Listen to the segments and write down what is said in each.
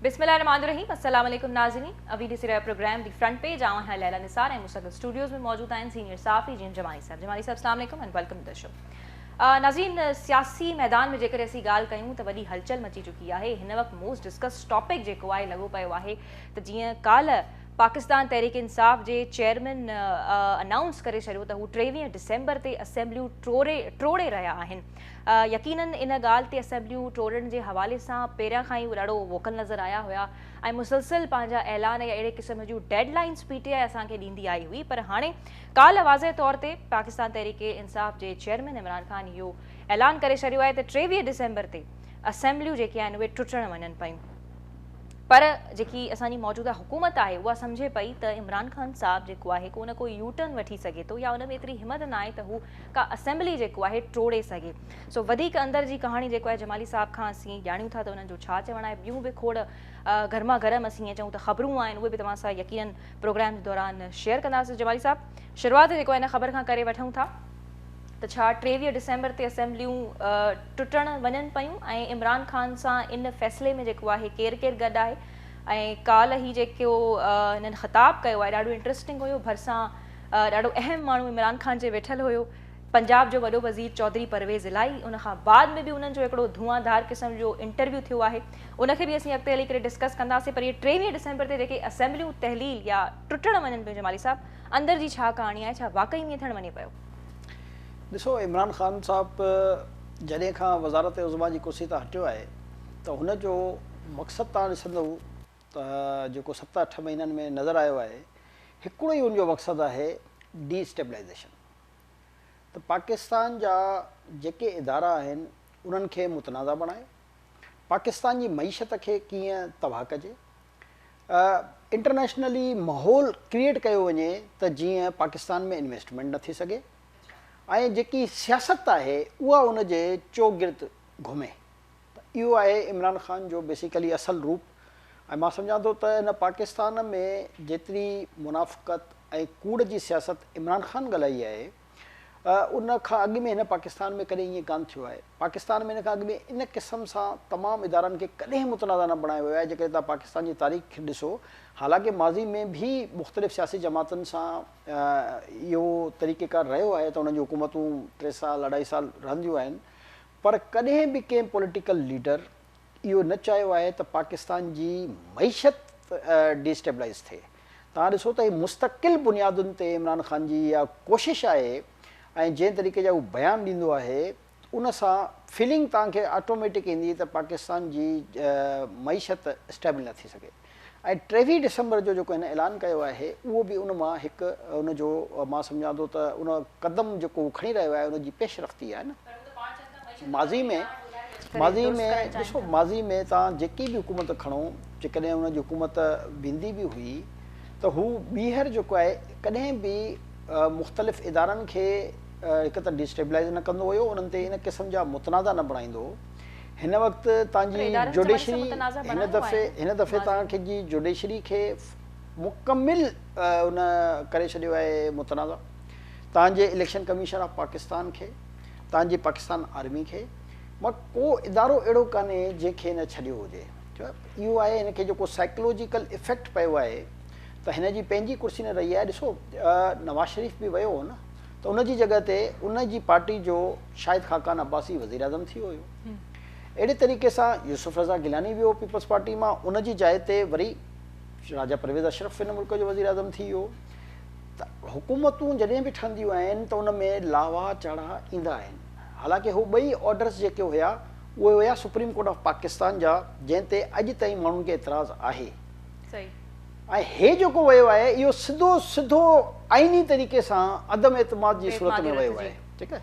بسم الله الرحمٰن الرحيم السلام عليڪم ناظرين اوين ڏسي رهيا پروگرام دي فرنٽ پيج آئون آهيان ليلا نثار ۽ مون سان گڏ اسٽوڊيوز ۾ موجود آهن سينيئر صحافي جي ايم جمالي صاحب جمالي صاحب السلام عليڪم اينڊ ويلڪم ٽو شو ناظرين سياسي ميدان ۾ جيڪڏهن اسين ڳالهه ڪيون ته وڏي هلچل مچي چڪي آهي هن وقت موسٽ ڊسڪس ٽاپڪ جيڪو آهي لڳو پيو آهي ته جيئن ڪالهه پاڪستان تحريڪ انصاف جي چيئرمين انائونس ڪري ڇڏيو ته هو ٽيويهه ڊسمبر تي اسيمبليون ٽوڙي ٽوڙي رهيا آهن يقينن ان ڳالهه تي اسيمبليون ٽوڙڻ جي حوالي سان پهريان کان ئي اهي رڙو ووڪل نظر آيا هيا ۽ مسلسل پنهنجا اعلان يا اهڙي قسم جون deadlines P T I اسان کي ڏيندي آئي هئي پر هاڻي ڪالهه واضح طور تي پاڪستان تحريڪ انصاف جي چيئرمين عمران خان اهو اعلان ڪري ڇڏيو آهي ته ٽيويهه ڊسمبر تي اسيمبليون جيڪي آهن اهي ٽٽڻ وڃن پيون پر جيڪي اسان جي موجوده حڪومت آهي اها سمجهي پئي ته عمران خان صاحب جيڪو آهي ڪو نه ڪو يو ٽرن وٺي سگهي ٿو يا ان ۾ ايتري همت نه آهي ته هو ڪا اسيمبلي جيڪو آهي ٽوڙي سگهي. سو وڌيڪ اندر جي ڪهاڻي جيڪو آهي جمالي صاحب کان اسين ڄاڻيون ٿا ته انهن جو ڇا چوڻ آهي ٻيون به کوڙ گرما گرم اسين ائين چئون ته خبرون آهن اهي به توهان سان يقينن پروگرام جي دوران شيئر ڪنداسين جمالي صاحب شروعات جيڪو آهي ان خبر کان ڪري وٺون ٿا ته ڇا ٽيويهه ڊسمبر تي اسيمبليون ٽٽڻ وڃن پيون ۽ عمران خان سان ان فيصلي ۾ جيڪو آهي ڪير ڪير گڏ آهي ۽ ڪالهه هي جيڪو هنن خطاب ڪيو آهي ڏاڍو انٽرسٽنگ هيو ڀرسان ڏاڍو اهم ماڻهو عمران خان جي ويٺل هيو، پنجاب جو وڏو وزير چوڌري پرويز الاهي، ان کان بعد ۾ به انهن جو هڪڙو ڌوئان ڌار قسم جو انٽرويو ٿيو آهي، ان کي به اسين اڳتي هلي ڪري ڊسڪس ڪنداسين پر اهي ٽيويهه ڊسمبر تي جيڪي اسيمبليون تحليل يا ٽٽڻ وڃن پيون جمالي صاحب اندر جي ڇا ڪهاڻي آهي ڇا واقعي ائين ٿيڻ وڃي پيو؟ ڏسو عمران خان صاحب جڏهن کان وزارت عظميٰ جي ڪرسي تان هٽيو آهي ته هن جو مقصد تان ڏسندو ته جيڪو ست اٺ مهينن ۾ نظر آيو آهي هڪڙو ئي ان جو مقصد آهي ڊي اسٽيبلائيزيشن ته پاڪستان جا جيڪي ادارا آهن انهن کي متنازع بڻائي پاڪستان جي معيشت کي ڪيئن تباهه ڪجي انٽرنيشنلي ماحول ڪريئيٽ ڪيو وڃي ته جيئن پاڪستان ۾ انويسٽمينٽ نه ٿي سگهي ۽ جيڪي سياست آهي اها ان جي چوگرد گهمي. ته اهو آهي عمران خان جو بيسيڪلي اصل روپ ۽ مان سمجهان ٿو ته هن پاڪستان ۾ جيتري منافقت ۽ ڪوڙ جي سياست عمران خان ڳالهائي آهي ان کان اڳ ۾ هن پاڪستان ۾ ڪڏهن ائين ڪانه ٿيو آهي پاڪستان ۾ ان کان اڳ ۾ ان قسم سان تمام ادارن کي ڪڏهن متنازع نه بڻايو ويو آهي جيڪڏهن توهان پاڪستان جي تاريخ کي ڏسو حالانڪه ماضي ۾ به مختلف سياسي جماعتن سان اهو طريقه ڪار رهيو آهي ته انهن جون حڪومتون ٽي سال اڍائي سال رهنديون آهن پر ڪڏهن به ڪنهن پوليٽيڪل ليڊر اهو نه چاهيو آهي ته پاڪستان جي معيشت ڊي اسٽيبلائيز ٿئي. توهان ڏسو ته هي مستقل بنيادن تي عمران خان جي اها ڪوشش آهي ۽ جنهن طريقي جا هو بيان ڏيندو آهي ان سان فيلنگ توهان کي آٽوميٽڪ ايندي ته پاڪستان جي معيشت اسٽيبل نه ٿي سگهي. ۽ ٽيويهه ڊسمبر جو جيڪو هن اعلان ڪيو آهي اهو به ان مان هڪ ان جو مان سمجهان ٿو ته ان قدم جيڪو هو کڻي رهيو آهي ان جي پيش رفتي آهي نه ماضي ۾ ماضي ۾ ڏسو ماضي ۾ تان جيڪي به حڪومت کڻو جيڪڏهن ان جي حڪومت ويندي به هئي ته هو ٻيهر جيڪو آهي ڪڏهن به مختلف ادارن کي هڪ ته ڊي اسٽيبلائز نه ڪندو هيو انهن تي ان قسم جا متنازع نه بڻائيندو هو هن وقت تان جي جوڊيشري هن دفعي هن دفعي تان کي جي جوڊيشري کي مڪمل ان ڪري ڇڏيو آهي متنازع تان جي اليڪشن ڪميشن آف پاڪستان کي تان جي پاڪستان آرمي کي مان ڪو ادارو اهڙو ڪانهي جنهن کي نه ڇڏيو هجي اهو آهي هن کي جيڪو سائيڪلوجيڪل افيڪٽ پيو آهي ته هن جي پنهنجي ڪرسي نه رهي آهي ڏسو نواز شريف به ويو هو نه ته ان جي جڳهه تي ان جي پارٽي جو شاهد خاقان عباسي وزيراعظم ٿي ويو هيو. اهڙي طريقي سان يوسف رضا گيلاني ويو پيپلز پارٽي مان ان جي جاء تي وري راجا پرويز اشرف هن ملڪ جو وزيراعظم ٿي ويو ته حڪومتون جڏهن به ٺهنديون آهن ته ان ۾ لاوا چاڙها ايندا آهن حالانڪه هو ٻئي آرڊرز جيڪي هيا اهي هيا سپريم ڪورٽ آف پاڪستان جا جنهن تي اڄ تائين ماڻهن کي اعتراض آهي. ۽ هي جيڪو ويو آهي اهو سڌو سڌو آئيني طريقي سان عدم اعتماد جي صورت ۾ ويو آهي ٺيڪ آهي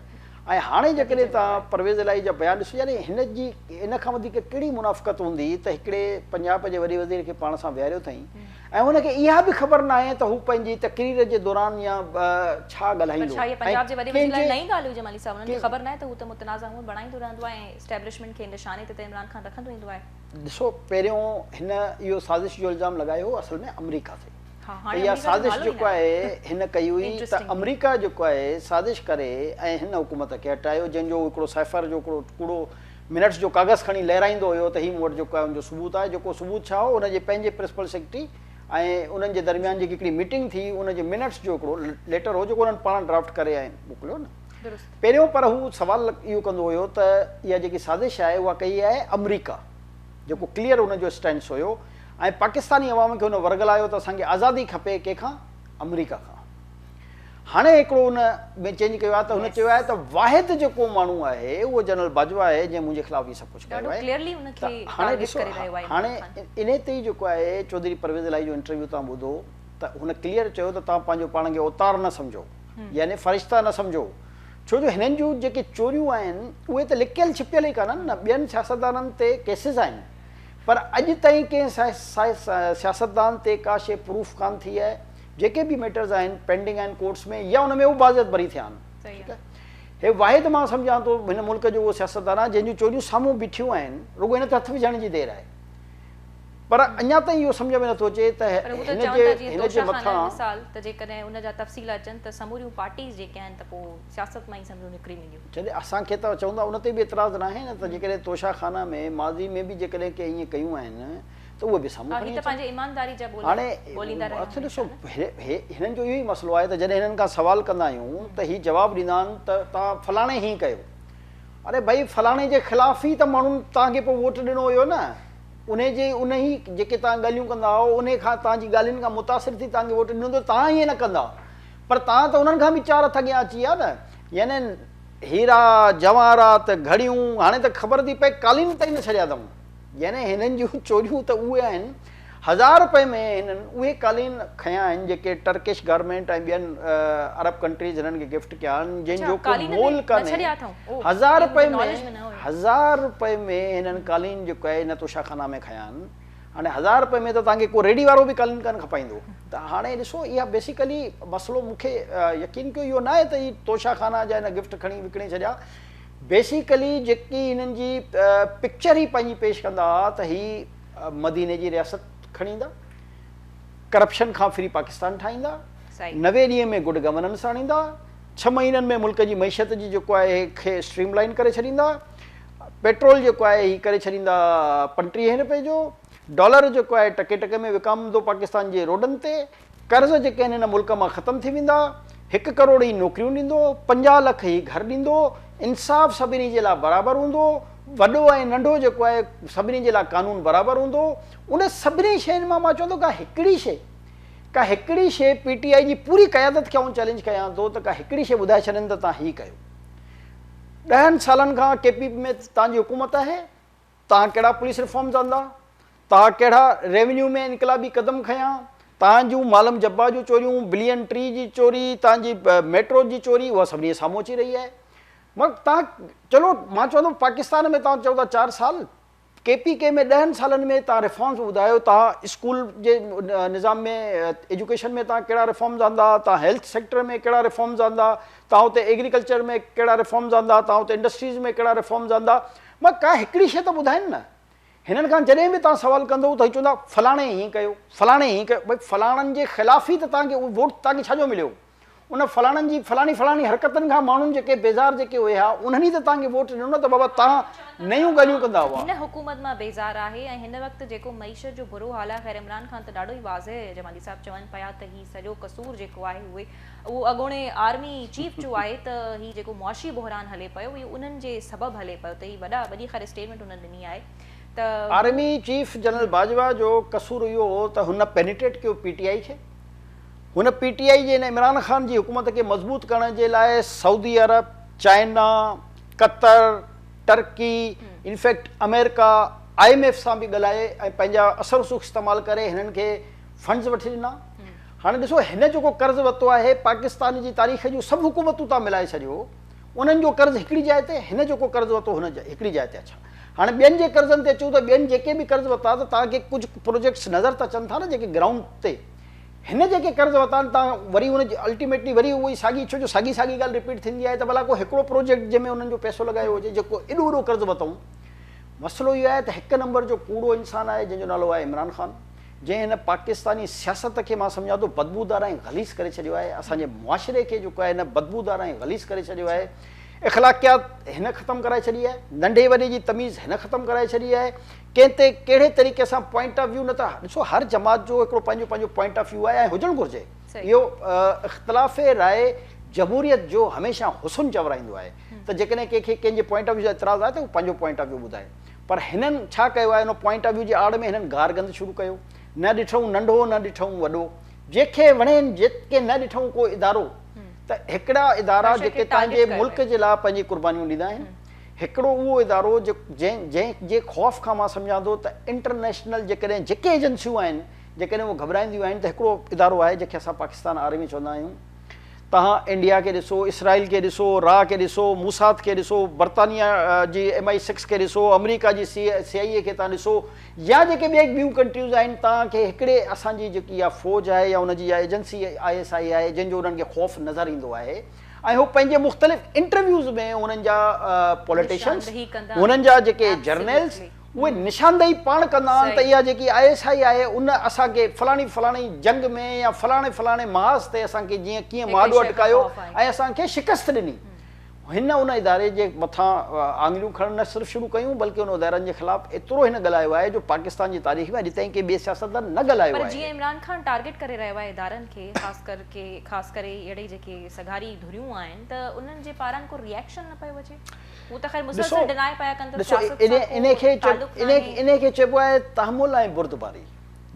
۽ هاڻي جيڪڏهن توهان پرويز الاهي جا بيان ڏسو يعني هن جي ان کان وڌيڪ ڪهڙي منافقت هوندي ته هڪڙي پنجاب جي وڏي وزير کي پاڻ سان ويهاريو اٿائين ۽ ان کي اها به خبر ناهي ته هو پنهنجي تقرير جي دوران يا ڇا ڳالهائيندو ۽ ڪنهن جي نئين ڳالهه هجي مالهي صاحب انهن کي خبر ناهي ته هو ته متنازع امور بڻائيندو رهندو آهي ۽ اسٽيبلشمينٽ کي نشاني تي ته عمران خان رکندو ايندو آهي. ڏسو پهريون هن اهو سازش جو الزام لڳايو هو اصل ۾ آمريڪا تي ته اها سازش جيڪو آهي هن ڪئي هئي ته آمريڪا جيڪو آهي سازش ڪري ۽ هن حڪومت کي هٽايو جنهن جو هڪڙو سائفر جو هڪڙو ڪوڙو منٽس جو ڪاغذ کڻي لهرائيندو هيو ته هي مون وٽ جيڪو آهي ان جو ثبوت آهي جيڪو ثبوت ڇا هو ان جي پنهنجي پرنسپل سيڪريٽري ۽ انهن جي درميان جيڪي هڪڙي ميٽنگ ٿي ان جي منٽس جو هڪڙو ليٽر هو جيڪو انهن پاڻ ڊرافٽ ڪري ۽ موڪليو نه درست. پهريون پر هو سوال اهو ڪندو هيو ته اها جيڪي سازش آهي اها ڪئي آهي آمريڪا جيڪو ڪليئر هن جو اسٽينس هيو ۽ پاڪستاني عوام کي هن ورغلايو ته اسان کي آزادي کپي ڪنهن کان آمريڪا کان هاڻي هڪڙو ان ۾ چينج ڪيو آهي ته هن چيو آهي ته واحد جيڪو ماڻهو آهي اهو جنرل باجوا آهي جنهن منهنجي خلاف هي سڀ ڪجهه ڪيو آهي ته هاڻي ڏسو هاڻي انهي تي جيڪو آهي چوڌري پرويز الاهي جو انٽرويو توهان ٻڌو ته هن ڪليئر چيو ته توهان پنهنجو پاڻ کي اوتار نه سمجهو يعني فرشتا نه سمجهو. ڇو جو هنن جون جيڪي چوريون آهن اهي ته لڪيل ڇپيل ئي ڪانهن نه ٻين سياستدانن تي ڪيسز آهن پر اڄ تائين ڪنهن سياستدان تي ڪا شيء پروف ڪانه ٿي آهي جيڪي به ميٽرز آهن پينڊنگ آهن ڪورٽس ۾ يا ان ۾ هو باضيت بري ٿيا آهن ٺيڪ آهي هي واحد مان سمجهان ٿو هن ملڪ جو اهو سياستدان آهي جنهن جون چوريون سامهون بيٺيون آهن رڳو هن تي هٿ وجهڻ جي دير آهي. پر اڃا تائين اهو سمجهه ۾ نٿو اچي ته پر هو ته هن چون جي ٿا جيئن هن جي توشه خانه جو مٿان مثال ته جيڪڏهن ان جا تفصيل اچن ته سموريون پارٽيز جيڪي آهن ته پوء سياست مان ئي سمجهو نڪري وينديون. جڏهن اسان کي ته چوندا ان تي به اعتراض ناهي نه ته جيڪڏهن توشه خانه ۾ ماضي ۾ به جيڪڏهن ڪنهن ايئن ڪيون آهن ته اهي به سامهون ها هي کڻي ته اچن. پنهنجي ايمانداري جا ٻوليا هاڻي ٻوليندا رهيا آهن ڏسو انسان. هي هنن جو اهو ئي مسئلو آهي ته جڏهن هنن کان سوال ڪندا آهيون ته هي جواب ڏيندا آهن ته توهان فلاڻي هيئن ڪيو. اري ڀائي فلاڻي جي خلاف ئي ته ماڻهن توهان کي پوء ووٽ ڏنو هيو نه. انهي جي انهي جيڪي توهان ڳالهيون ڪندا آهو انهي کان توهان جي ڳالهين کان متاثر ٿي توهان کي ووٽ ڏنو ته توهان ائين نه ڪندا پر توهان ته انهن کان به چار هٿ اڳيان اچي ويا نه يعني هيرا جواهرات گهڙيون هاڻي ته خبر ٿي پئي قالين تائين نه ڇڏيا اٿئون يعني هنن جون چوريون ته اهي آهن هزار روپئي ۾ هنن اهي قالين کنيا آهن جيڪي ٽرڪش گارمينٽ ۽ ٻين عرب ڪنٽريز هنن کي گفٽ ڪيا آهن جن جو ڪو مول ڪانهي هزار رپئي ۾ هزار رپئي ۾ هنن قالين جو ڪئي نه توشا خانه ۾ کنيان هاڻي هزار رپئي ۾ ته توهان کي ڪو ريڊي وارو به قالين ڪانه کپائيندو ته هاڻي ڏسو اها بيسيڪلي مسئلو مون کي يقين ڪيو اهو ناهي ته هي توشا خانه جا هن گفٽ کڻي وڪڻي ڇڏيا بيسيڪلي جيڪي هنن جي پڪچر ئي پنهنجي پيش ڪندا ها ته هي مديني جي رياست کڻي ايندا ڪرپشن کان فري پاڪستان ٺاهيندا نوي ڏينهن ۾ گڊ گورننس آڻيندا ڇهه مهينن ۾ ملڪ جي معيشت جي جيڪو آهي کي اسٽريم لائين ڪري ڇڏيندا، پيٽرول جيڪو آهي هي ڪري ڇڏيندا پنٽيهين رپئي جو، ڊالر جيڪو آهي ٽڪي ٽڪي ۾ وڪامندو پاڪستان جي روڊن تي، قرض جيڪي آهن هن ملڪ مان ختم ٿي ويندا، هڪ ڪروڙ هي نوڪريون ڏيندو، پنجاهه لک هي گهر ڏيندو، انصاف سڀني جي لاء برابر هوندو، وڏو ۽ ننڍو جيڪو آهي سڀني جي لاء قانون برابر هوندو، ان سڀني شين مان مان چوندو ڪا هڪڙي شي ڪا هڪڙي شيء پي ٽي آء جي پوري قيادت کي آئون چئلينج ڪيان ٿو ته ڪا هڪڙي شيء ٻڌائي ڇڏين ته توهان هي ڪيو. ڏهن سالن کان ڪي پي پي ۾ توهان جي حڪومت آهي، توهان ڪهڙا پوليس ريفارمز آندا، توهان ڪهڙا ريونيو ۾ انقلابي قدم کنيا، توهان جون مالم جبا جون چوريون، بلين ٽري جي چوري، توهان جي ميٽروز جي چوري اها سڀني جي سامهون اچي رهي آهي. مگر توهان چلو مان چوان ٿو پاڪستان ۾ توهان چئو ٿا چار سال ڪي پي ڪي ۾ ڏهن سالن ۾ توهان ريفارمز ٻڌايو توهان اسڪول جي نظام ۾ ايجوڪيشن ۾ توهان ڪهڙا ريفارمز آندا توهان هيلٿ سيڪٽر ۾ ڪهڙا ريفارمز آندا توهان اتي ايگريڪلچر ۾ ڪهڙا ريفارمز آندا توهان اتي انڊسٽريز ۾ ڪهڙا ريفارمز آندا مگر ڪا هڪڙي شيء ته ٻڌائين نه هنن کان جڏهن به توهان سوال ڪندو ته هي چوندا فلاڻي هيئن ڪيو فلاڻي هيئن ڪيو ڀئي فلاڻن جي خلاف ئي ته توهان کي ووٽ توهان کي ڇا جو مليو ان فلاڻن جي فلاڻي فلاڻي حرڪتن کان ماڻهن جيڪي بيزار جيڪي اهي ها انهن ئي ته توهان کي ووٽ ڏنو نه ته بابا توهان نيون ڳالهيون ڪندا هئا. هن حڪومت مان بيزار آهي ۽ هن وقت جيڪو معيشت جو برو حال آهي خير عمران خان ته ڏاڍو ئي واضح جمالي صاحب چون پيا ته هي سڄو قصور جيڪو آهي اهي اهو اڳوڻي آرمي چيف جو آهي ته هي جيڪو معاشي بحران هلي پيو اهو انهن جي سبب هلي پيو ته هي وڏا وڏي خير اسٽيٽمينٽ هنن ڏني آهي ته آرمي چيف جنرل باجوا جو قصور اهو هو ته هن پينيٽريٽ ڪيو پي ٽي آئي کي. هن پي ٽي آء جي ۽ عمران خان جي حڪومت کي مضبوط ڪرڻ جي لاء Saudi Arab, China, Qatar, Turkey in fact آمريڪا، آء ايم ايف سان به ڳالهائي ۽ پنهنجا اثر رسوخ استعمال ڪري هنن کي فنڊز وٺي ڏنا. هاڻي ڏسو هن جيڪو قرض ورتو آهي پاڪستان جي تاريخ جون سڀ حڪومتون تان ملائي ڇڏيو انهن جو قرض هڪڙي جاء تي هن جيڪو قرض ورتو هن هڪڙي جاء تي اڇا. هاڻي ٻين جي قرضن تي اچون ته ٻين جيڪي به قرض ورتا ته توهان کي ڪجهه پروجيڪٽس نظر ته اچن ٿا نه جيڪي گرائونڊ تي هن جيڪي قرض ورتا آهن توهان وري ان جي الٽيميٽلي وري اهو ئي ساڳي ڇو جو ساڳي ساڳي ڳالهه رپيٽ ٿيندي آهي ته ڀلا ڪو هڪڙو پروجيڪٽ جنهن ۾ انهن جو پئسو لڳايو هجي جيڪو ايڏو وڏو قرض ورتائون مسئلو اهو آهي ته هڪ نمبر جو ڪوڙو انسان آهي جنهن جو نالو آهي عمران خان جنهن هن پاڪستاني سياست کي مان سمجهان ٿو بدبودار ۽ غليظ ڪري ڇڏيو آهي اسان جي معاشري کي جيڪو آهي هن بدبودار ۽ غليظ ڪري ڇڏيو آهي اخلاقيات هن ختم ڪرائي ڇڏي آهي، ننڍي وڏي جي تميز هن ختم ڪرائي ڇڏي آهي، ڪنهن تي ڪهڙي طريقي سان پوائنٽ آف ويو نه ته ڏسو هر جماعت جو هڪڙو پنهنجو پنهنجو پوائنٽ آف ويو آهي ۽ هجڻ گهرجي اهو اختلاف راء جمهوريت جو هميشه حسن چورائيندو آهي ته جيڪڏهن ڪنهن کي ڪنهن جي پوائنٽ آف ويو سان اعتراض آهي ته هو پنهنجو پوائنٽ آف ويو ٻڌائي پر هنن ڇا ڪيو آهي ان پوائنٽ آف ويو جي آڙ ۾ هنن گار گند شروع ڪيو نه ڏٺئون ننڍو نه ڏٺئون وڏو جنهن کي وڻين جيڪي نه ڏٺئون ڪو ادارو ته هڪڙا ادارا جيڪي پنهنجي ملڪ جي لاء پنهنجي قربانيون ڏيندا آهن هڪڙو اهو ادارو جنهن جنهن جي خوف کان مان سمجهان ٿو ته انٽرنيشنل جيڪڏهن جيڪي ايجنسيون آهن جيڪڏهن اهي گهٻرائينديون آهن ته هڪڙو ادارو آهي جنهن کي اسان پاڪستان آرمي چوندا آهيون تهان انڊيا کي ڏسو اسرائيل کي ڏسو را کي ڏسو موساد کي ڏسو برطانيا جي ايم آئي سڪس کي ڏسو آمريڪا جي سي آئي اي کي تهان ڏسو يا جيڪي ٻيئي ٻيون ڪنٽريز آهن تان کي هڪڙي اسان جي جيڪي اها فوج آهي يا ان جي اها ايجنسي آء ايس آء آهي جنهن جو انهن کي خوف نظر ايندو آهي ۽ هو پنهنجي مختلف انٽرويوز ۾ هنن جا پوليٽيشنز نشاندهي ڪندا هنن جا جيڪي آهن جرنيلز Absolutely. اهي نشاندهي پاڻ ڪندا آهن ته صحيح. اها جيڪي آء ايس آء آهي ان اسان کي فلاڻي فلاڻي جنگ ۾ يا فلاڻي فلاڻي محاذ تي اسان کي جيئن ڪيئن هڪڙي مهاڏو شيء کان اٽڪايو خوف آهي. ۽ اسان کي شڪست ڏني هن ان اداري جي مٿان آڱريون کڻڻ نه صرف شروع ڪيون بلڪه ان ادارن جي خلاف ايترو هن ڳالهايو آهي جو پاڪستان جي تاريخ ۾ اڄ تائين ڪنهن ٻئي سياستدان نه ڳالهايو پر آهي. جيئن عمران خان ٽارگيٽ ڪري رهيو آهي ادارن کي خاص ڪر ڪي خاص ڪري اهڙي جيڪي سگهاري ڌريون آهن ته انهن جي پاران ڪو ريئڪشن نه پيو اچي هو ته خير مسلسل ڊناء پيا ڪن ته سياست سان ڪو تعلق ناهي. انهي کي چئبو آهي تحمل ۽ بردباري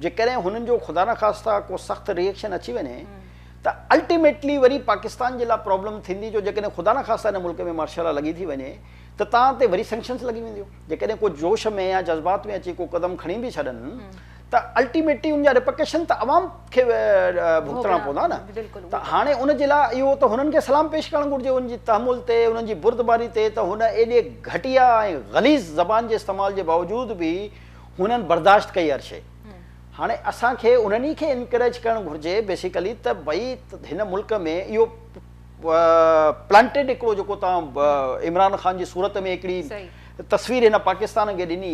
جيڪڏهن هنن جو خدا نخواسته ڪو سخت ريئڪشن اچي وڃي ته الٽيميٽلي وري پاڪستان جي لاء پرابلم ٿيندي جو جيڪڏهن خدا نخواسته هن ملڪ ۾ مارشل لا لڳي ٿي وڃي ته تان تي وري سينڪشنس لڳي وينديون جيڪڏهن ڪو جوش ۾ يا جذبات ۾ اچي ڪو قدم کڻي به ڇڏن ته الٽيميٽلي ان جا رپرڪشن ته عوام کي ڀگتڻا پوندا نه ته هاڻي ان جي لاء اهو ته هنن کي سلام پيش ڪرڻ گهرجي ان جي تحمل تي انهن جي بردباري تي ته هن ايڏي گهٽيا ۽ غليظ زبان جي استعمال جي باوجود به هنن برداشت ڪئي هر شيء هاڻي اسان کي انهن ئي کي انڪريج ڪرڻ گهرجي بيسيڪلي ته ڀئي هن ملڪ ۾ اهو پلانٽيڊ هڪڙو جيڪو توهان عمران خان جي صورت ۾ هڪڙي تصوير هن پاڪستان کي ڏني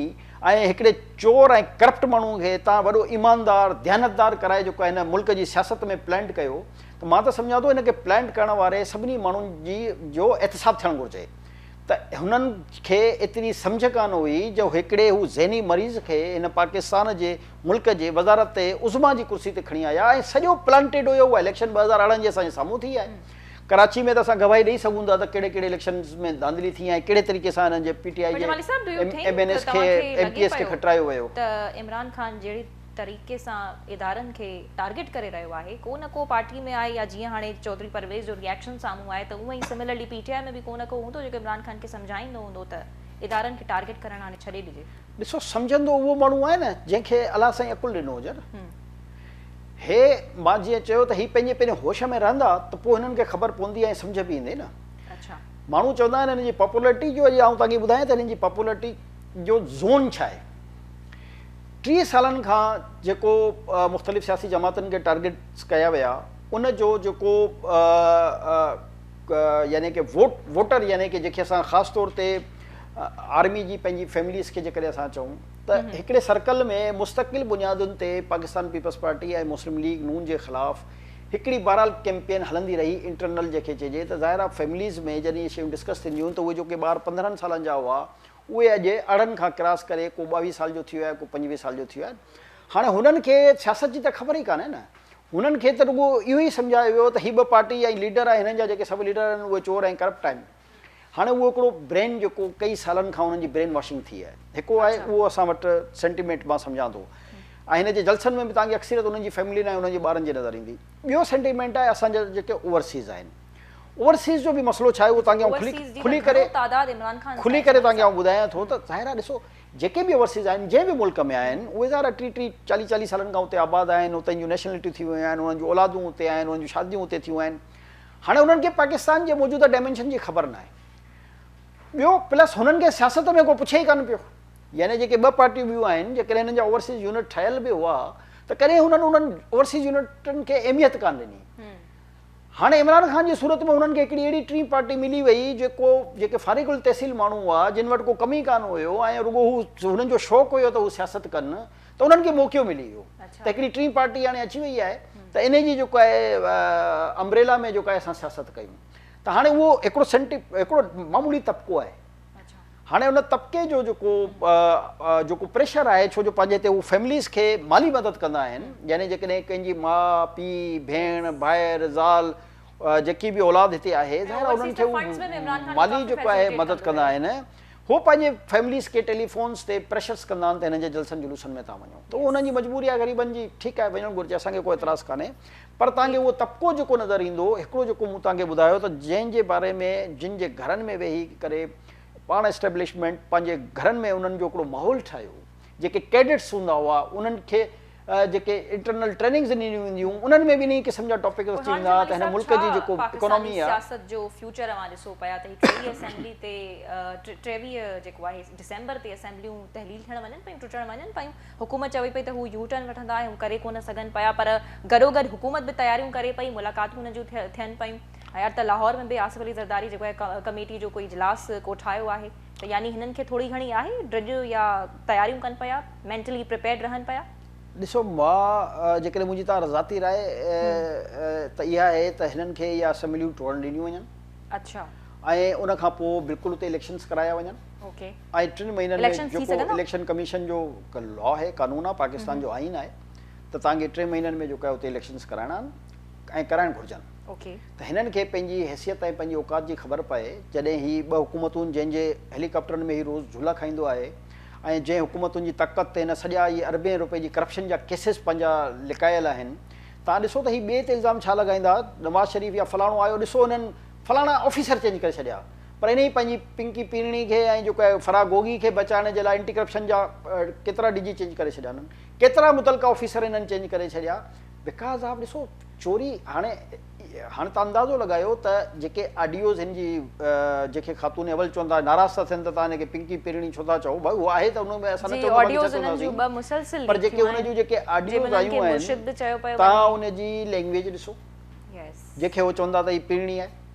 ۽ هڪڙي چور ۽ ڪرپٽ ماڻهو کي هتان وڏو ايماندار ديانتدار ڪرائي جيڪو هن ملڪ جي سياست ۾ پلانٽ ڪيو ته مان ته سمجهان ٿو هن کي پلانٽ ڪرڻ واري سڀني ماڻهن جي جو احتساب ٿيڻ گهرجي ته هنن کي ايتري سمجهه ڪانه هئي جو هڪڙي هو ذهني مريض کي هن پاڪستان جي ملڪ جي وزارت عظميٰ جي ڪرسي تي کڻي آيا ۽ سڄو پلانٽيڊ هيو اها اليڪشن ٻه هزار ارڙهن جي اسان جي سامهون ٿي آهي ڪراچي ۾ ته اسان گواهي ڏئي سگهون ٿا ته ڪهڙي ڪهڙي اليڪشنز ۾ ڌانڌلي ٿي ۽ ڪهڙي طريقي سان هنن جي پي ٽي آئي جي ايم اين ايز کي ايم پي ايز کي کٽرايو ويو. طريقي سان ادارن کي ٽارگيٽ ڪري رهيو آهي ڪو نه ڪو پارٽي ۾ آهي يا جيئن هاڻي چوڌري پرويز جو ري ايڪشن سامهون آهي ته اوئن ئي سملرلي پي ٽي آء ۾ به ڪو نه ڪو هوندو جيڪو عمران خان کي سمجهائيندو هوندو ته ادارن کي ٽارگيٽ ڪرڻ هاڻي ڇڏي ڏجي. ڏسو سمجهندو اهو ماڻهو آهي نه جنهن کي الله سائين عقل ڏنو هجن هي مان جيئن چيو ته هي پنهنجي پنهنجي هوش ۾ رهندا ته پوء هنن کي خبر پوندي ۽ سمجهه به ايندي نه ماڻهو چوندا آهن هنن جي پاپولرٽي جو اڄ آئون توهان کي ٻڌايان ته هنن جي پاپولرٽي جو زون ڇا آهي. ٽيهه سالن کان جيڪو مختلف سياسي جماعتن کي ٽارگيٽس ڪيا ويا ان جو جيڪو يعني ڪي ووٽ ووٽر يعني ڪي جيڪي اسان خاص طور تي آرمي جي پنهنجي فيمليز کي جيڪڏهن اسان چئون ته هڪڙي سرڪل ۾ مستقل بنيادن تي Pakistan people's party ۽ Muslim League نون جي خلاف هڪڙي بهرحال ڪيمپين هلندي رهي انٽرنل جيڪي چئجي ته ظاهر آ فيمليز ۾ جڏهن اهي شيون ڊسڪس ٿينديون ته اهي جيڪي ٻار پندرهن سالن جا هئا اهي اڄ ارڙهن کان ڪراس ڪري ڪو ٻاويهه سال جو ٿيو آهي ڪو پنجويهه سال جو ٿيو آهي. هاڻي هنن کي سياست جي ته خبر ئي ڪانهي نه. هنن کي ته رڳو اهو ئي سمجهايو ويو ته هي ٻه پارٽي ۽ ليڊر ۽ هنن جا جيڪي سڀ ليڊر آهن اهي چور ۽ ڪرپٽ آهن. هاڻي اهو هڪڙو برين جيڪو ڪئي سالن کان انهن جي برين واشنگ ٿي آهي. هڪڙو آهي اهو اسان وٽ سينٽيمينٽ مان سمجهان ٿو ۽ هن جي جلسن ۾ به توهان کي اڪثريت انهن جي فيملين ۽ انهن جي ٻارن جي نظر ايندي. ٻيو سينٽيمينٽ آهي اسان جا جيڪي اوورسيز آهن. اوورسيز جو به مسئلو ڇاهي اهو توهان کي آئون کلي ڪري کلي ڪري توهان کي آئون ٻڌايان ٿو ته ظاهر آهي ڏسو جيڪي به اوورسيز آهن جنهن به ملڪ ۾ آهن اهي ظاهر آهي ٽي ٽي چاليهه چاليهه سالن کان اتي آباد آهن اتي جون نيشنلٽيون ٿي ويون آهن انهن جون اولادون اتي آهن انهن جون شاديون اتي ٿيون آهن هاڻي انهن کي پاڪستان جي موجوده ڊائمينشن جي خبر ناهي ٻيو پلس هنن کي سياست ۾ ڪو پڇي ئي ڪانه پيو يعني جيڪي ٻه پارٽيون ٻيون آهن جيڪڏهن هنن جا اوورسيز يونٽ ٺهيل به هئا ته ڪڏهن هنن انهن اوورسيز يونٽن کي اهميت ڪانه ڏني هاڻي عمران خان جي صورت ۾ هنن کي هڪڙي اهڙي ٽين پارٽي ملي وئي جيڪو جيڪي فارغ التحصيل ماڻهو هئا جن وٽ ڪو ڪم ئي ڪانه هيو ۽ رڳو هو هنن جو شوق هيو ته هو سياست ڪن ته انهن کي موقعو ملي ويو ته هڪڙي ٽين پارٽي هاڻي اچي وئي آهي ته انهي جي جيڪو آهي امبريلا ۾ جيڪو آهي اسان سياست ڪيون ته هاڻي اهو هڪڙو سينٽي هڪڙو معمولي طبقو آهي. هاڻي ان طبقي جو جيڪو جيڪو پريشر آهي ڇو جو پنهنجي هتي هو فيمليز کي مالي مدد ڪندا آهن يعني جيڪڏهن ڪنهن جي ماء پي ڀيڻ ڀائر زال جيڪي به اولاد هتي آهي ظاهر انهن کي مالي جيڪو آهي مدد ڪندا آهن هو پنهنجي فيمليز کي ٽيليفونز تي پريشرس ڪندا آهن ته هنن جي جلسن جلوسن ۾ تها وڃو ته انهن جي مجبوري آهي غريبن جي ٺيڪ آهي وڃڻ گهرجي اسان کي ڪو اعتراض ڪانهي پر توهان کي اهو طبقو جيڪو نظر ايندو، هڪڙو جيڪو مون توهان کي ٻڌايو ته جنهن جي باري ۾ جن جي گهرن ۾ ويهي ڪري پاڻ اسٽيبلشمينٽ پنهنجي گهرن ۾ انهن جو هڪڙو ماحول ٺاهيو، جيڪي ڪيڊٽس هوندا هئا انهن کي جيڪي انٽرنل ٽريننگز ڏنيون وينديون هيون انهن ۾ به انهيء قسم جا ٽاپڪس اچي ويندا هئا ته هن ملڪ جي جيڪو اڪانامي آهي. پاڪستاني سياست جو فيوچر اوهان ڏسو پيا ته هي ٽيويهه اسيمبلي تي ٽيويهه جيڪو آهي ڊسمبر تي اسيمبليون تحليل ٿيڻ وڃن پيون، ٽٽڻ وڃن پيون. حڪومت چوي پئي ته هو يو ٽرن وٺندا ۽ هو ڪري ڪونه سگهن پيا پر گڏوگڏ حڪومت به تياريون ڪري پئي، ملاقاتون هن جون ٿين پيون ۽ اٽ ته لاهور ۾ به آصف علي زرداري جيڪو اهي ڪميٽي جو ڪو اجلاس ڪوٺايو آهي ته يعني هنن کي ٿوري گهڻي آهي ڊڄ يا تياريون ڪن پيا مينٽلي پريپيئرڊ رهن پيا. ڏسو مان جيڪڏهن منهنجي تان ذاتي راء ته اها آهي ته هنن کي اهي اسيمبليون ٽوڙڻ ڏنيون وڃن ۽ ان کان پوء بلڪل اتي اليڪشنز ڪرايا وڃن. ۽ ٽن مهينن ۾ اليڪشن ٿي جيڪو سگهندا؟ اليڪشن ڪميشن جو هڪ لا آهي، قانون آهي، پاڪستان جو آئين آهي ته توهان کي ٽي مهينن ۾ جيڪو آهي اتي اليڪشنز ڪرائڻا آهن ۽ ڪرائڻ گهرجن. اوڪي. ته هنن کي پنهنجي حيثيت ۽ پنهنجي اوقات جي خبر پئي جڏهن هي ٻه حڪومتون جنهن جي هيلي ڪاپٽرن ۾ هي روز جهولا کائيندو آهي ۽ جنهن حڪومتن جي طاقت تي هن سڄا اهي اربين روپين جي ڪرپشن جا ڪيسز پنهنجا لڪايل آهن توهان ڏسو ته هي ٻئي تي الزام ڇا لڳائيندا نواز شريف يا فلاڻو آيو ڏسو هنن فلاڻا آفيسر چينج ڪري ڇڏيا پر انهيء پنهنجي پنڪي پيرڻي کي ۽ جيڪو آهي فرا گوگي کي بچائڻ جي لاء انٽي ڪرپشن جا ڪيترا ڊي جي چينج ڪري ڇڏيا انهن ڪيترا متعلقه آفيسر انهن چينج ڪري ڇڏيا بيڪاز آف ڏسو چوري هاڻي هاڻي تان اندازو لڳايو ته جيڪي آڊيوز هن جي جنهن کي خاتون اول چون ٿا ناراض ٿا ٿين ته تان هن کي پنڪي پيرڻي ڇو ٿا چئو ڀاء هو آهي ته ان ۾ اسان نه چوندا باقي ڇا چونداسين پر جيڪي هن جون جيڪي آڊيوز آيون آهن تان ان جي لينگويج ڏسو جنهن کي هو چون ٿا ته هي پيرڻي آهي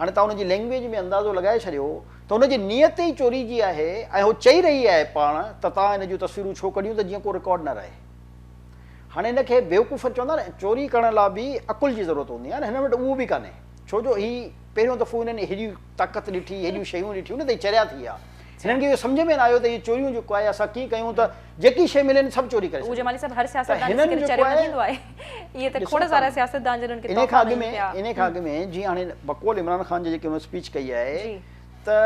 هاڻي توهان ان جي لئنگويج ۾ اندازو لڳائي ڇڏيو ته ان جي نيت ئي چوري جي آهي ۽ هو چئي رهي آهي پاڻ ته توهان ان جون تصويرون ڇو ڪڍيون ته جيئن ڪو رڪارڊ نه رهي. هاڻي هن کي بيوقوف چوندا نه چوري ڪرڻ لاء به عقل جي ضرورت هوندي آهي نه هنن وٽ اهو به ڪانهي ڇو جو هي پهريون دفعو هنن هيڏي طاقت ڏٺي هيڏيون شيون ڏٺيون نه ته هي چريا ٿي ويا. هنن کي اهو سمجهه ۾ نه آيو ته اهي چوريون جيڪو آهي اسان ڪيئن ڪيون ته جيڪي شيء ملين سڀ چوري ڪري ڇڏيون ته هنن جيڪو آهي ڏسو ٿا انهي کان اڳ ۾ انهي کان اڳ ۾ جيئن هاڻي بقول عمران خان جي جيڪي هن اسپيچ ڪئي آهي ته